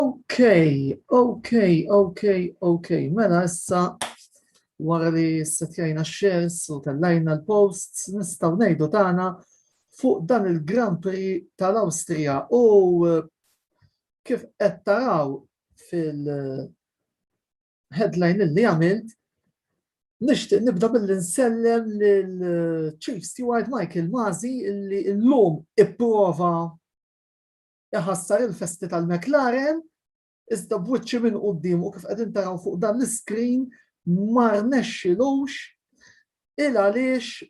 Okay, okay, okay, okay. Mela issa wara li setjajna shares u tellajna l-posts nistgħu ngħidu tagħna fuq dan il-Grand Prix tal-Awstrija u eh, kif qed taraw fil-headline eh, li għamilt Nishtiq nibda billi nsellem l-Chief eh, Steward Michael Mazi illi l-lum ipprova iħassar il-festi tal-McLaren, iżda b'wiċċi minn quddiem u kif qegħdin taraw fuq dan l-iskrin ma rnexxilux il għaliex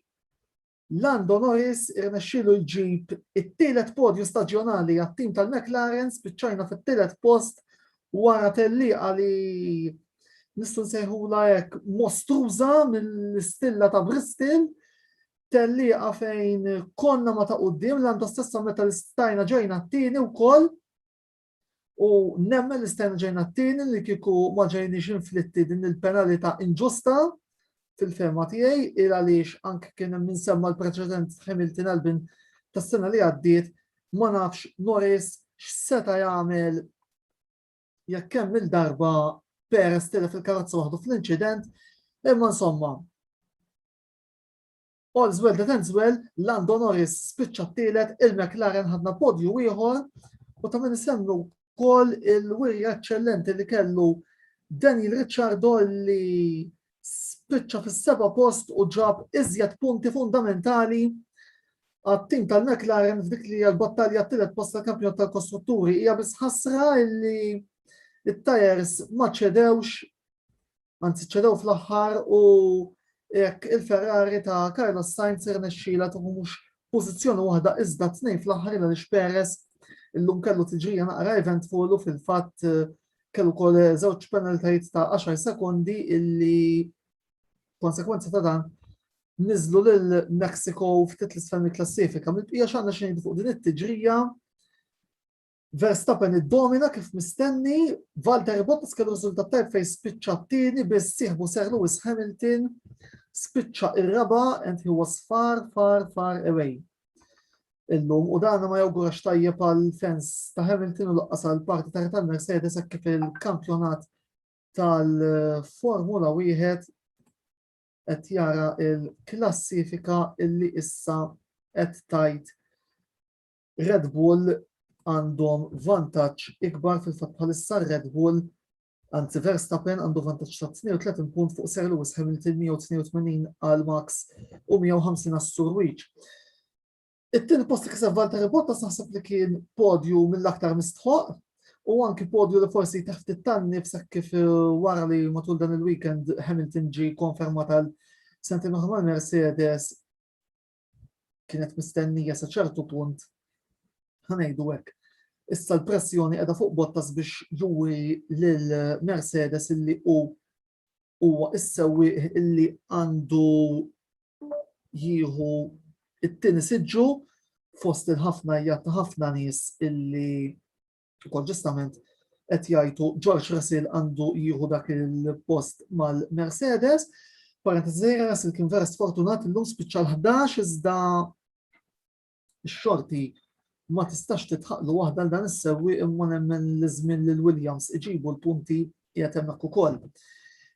Lando Norris irnexxilu jġib it-tielet podju staġjonali għat-tim tal-McLaren spiċċajna fit-tielet post wara tellieqa li nistgħu nsejħula hekk mostruża mill-istilla ta' Bristol tellieqa fejn konna ma ta' qudiem l għanda stessa meta l-istajna ġejna t-tieni u koll u nemmen l-istajna ġejna t-tieni li kiku ma ġejniex inflitti din il-penalita inġusta fil-fema tiegħi il għaliex anke kien hemm insemma l-preċedent Hamilton Albin tas-sena li għaddiet ma nafx Norris x'seta' jagħmel jekk hemm il-darba Perez tilef il-karozza waħdu fl-inċident imma insomma All's well that ends well, Lando Norris spiċċa t-tielet, il-McLaren ħadna podju ieħor u ta' minn semmu kol il-wirja eccellenti li kellu Daniel Ricciardo li spiċċa fis-seba post u ġab iżjed punti fundamentali għat-tim tal-McLaren f'dik li għal-battalja t-tielet post tal-kampjonat tal-kostrutturi hija biss ħasra li it-tajers ma ċedewx Anzi ċedew fl-aħħar u jekk il-Ferrari ta' Carlos Sainz irnexxila tuħu mhux pożizzjoni waħda iżda tnejn fl-aħħar il għaliex Perez illum kellu tiġrija naqra eventful u fil-fatt eh, kellu kol eh, żewġ penaltajt ta' 10 sekondi illi konsekwenza ta' dan nizlu lil Mexico ftit l-isfel klassifika Mill-bqija xanna xejn fuq din it-tiġrija Verstappen iddomina kif mistenni, Valtteri Bottas kellu riżultat tajb fejn spiċċa t-tieni biss sieħbu Sir Lewis Hamilton spiċċa ir-raba and he was far far far away. Illum u dan ma jawgurax tajjeb għal fans ta' Hamilton u laqqas għal parti ta' tal-Mercedes kif il-kampjonat tal-Formula wieħed qed jara il-klassifika illi issa qed tajt Red Bull għandhom vantaġġ ikbar fil-fatt bħalissa Red Bull Anzi, Verstappen għandu vantaġġ ta' 32 punt fuq Sir Lewis Hamilton 182 għal Max u 150 għas Surwiċ. It-tin post li kiseb Valtteri Bottas naħseb li kien podju mill-aktar mistħoq u anki podju li forsi taħt it-tanni f'sak kif eh, wara li matul dan il-weekend Hamilton ġi konfermat għal sentejn oħra Mercedes kienet mistennija sa ċertu punt ħanejdu hekk. Issa l-pressjoni qiegħda fuq Bottas biex juri lil Mercedes illi hu huwa issewi illi għandu jieħu it-tieni siġġu fost il-ħafna jgħat ħafna nies illi Ukoll ġustament qed jgħidu George Russell għandu jieħu dak il-post mal-Mercedes. Parentesi Russell kien vera sfortunat illum spiċċa l-11 iżda x-xorti ma tistax titħaqlu waħda l dan is-sewwi imma nemmen l-żmien lil Williams iġibu l-punti qiegħed hemmhekk ukoll.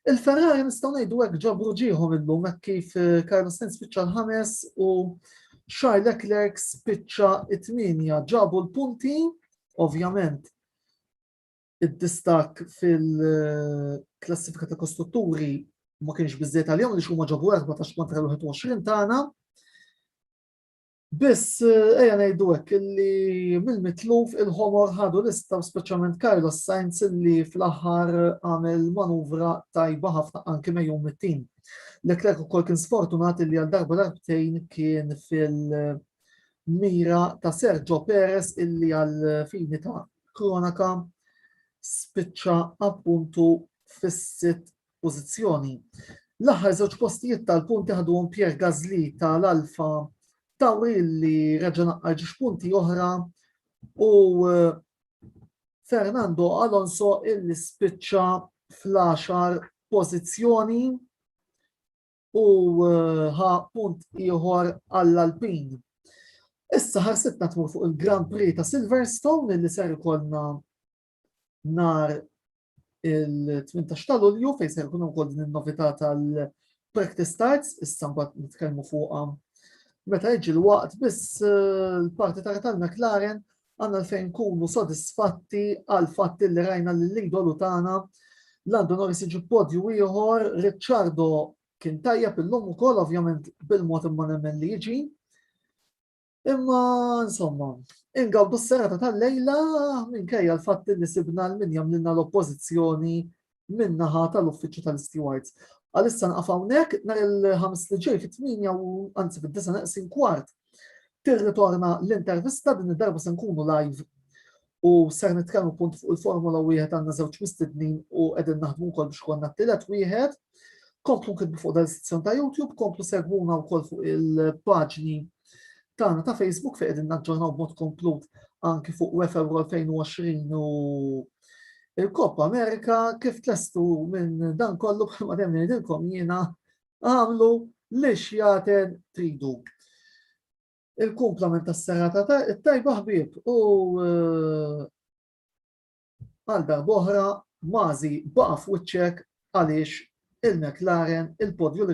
Il-Ferrari nistgħu ngħidu hekk ġabru ġieħu minnhom hekk kif eh, Carlos Sainz spiċċa l-ħames u Charles Leclerc spiċċa it-tminja ġabu l-punti, ovvjament id-distak fil-klassifika ta' kostrutturi ma kienx biżżejjed għalihom li xuma ġabu 14 kontra l-21 tagħna. Biss, eja ngħidu hekk illi mill-mitluf il-ħomor ħadu lista speċjalment Carlos Sainz illi fl-aħħar għamel manuvra tajba ħafna anke mejju mit-tim. Leclerc ukoll kien sfortunat illi għal darba darbtejn kien fil-mira ta' Sergio Perez illi għal fini ta' kronaka spiċċa appuntu fis-sitt pożizzjoni. L-aħħar żewġ postijiet tal-punti ħaduhom Pierre Gasly tal-Alfa Tauri li reġa' naqqar ġiex punti oħra u eh, Fernando Alonso illi spiċċa fl-10 pożizzjoni u eh, ħa punt ieħor għall-Alpin. Issa ħarsitna tmur fuq il-Grand Prix ta' Silverstone li ser ikollna nar il-18 ta' Lulju fejn se jkun ukoll din in-novità tal-practice starts, issa mbagħad nitkellmu fuqha meta jiġi l-waqt biss eh, l-parti ta' tal McLaren għandna fejn kunu sodisfatti għal fatt li rajna li l-idolu tagħna Lando Norris iġib podju ieħor, Ricciardo kien tajjeb illum ukoll ovvjament bil-mod imma nemmen li jiġi. Imma, insomma, ingawdu s-serata tal-lejla minkejja l-fatt li sibna l-min jamlinna l-oppozizjoni minnaħa tal-uffiċċju tal-stewards. Għalissa nqafawnek, nar il-ħamis li ġej fit-8 u anzi fid-9 neqsin kwart. Tirritorna l-intervista din id-darba se nkunu live U ser nitkellmu punt fuq il-Formula wieħed għandna żewġ mistednin u qegħdin naħdmu wkoll biex konna t-tielet wieħed. Komplu kitbu fuq dan sezzjon ta' YouTube, komplu segwuna wkoll fuq il-paġni tagħna ta' Facebook fejn qegħdin naġġornaw b'mod komplut anki fuq UEFA 2020 u il-Coppa Amerika kif tlestu minn dan kollu bħalma dem ngħidilkom jiena għamlu li xjaten tridu. Il-kumplament tas-serata ta' it-tajba ħbieb u għal darboħra mazi baqa' f'wiċċek għaliex il-McLaren il-podju li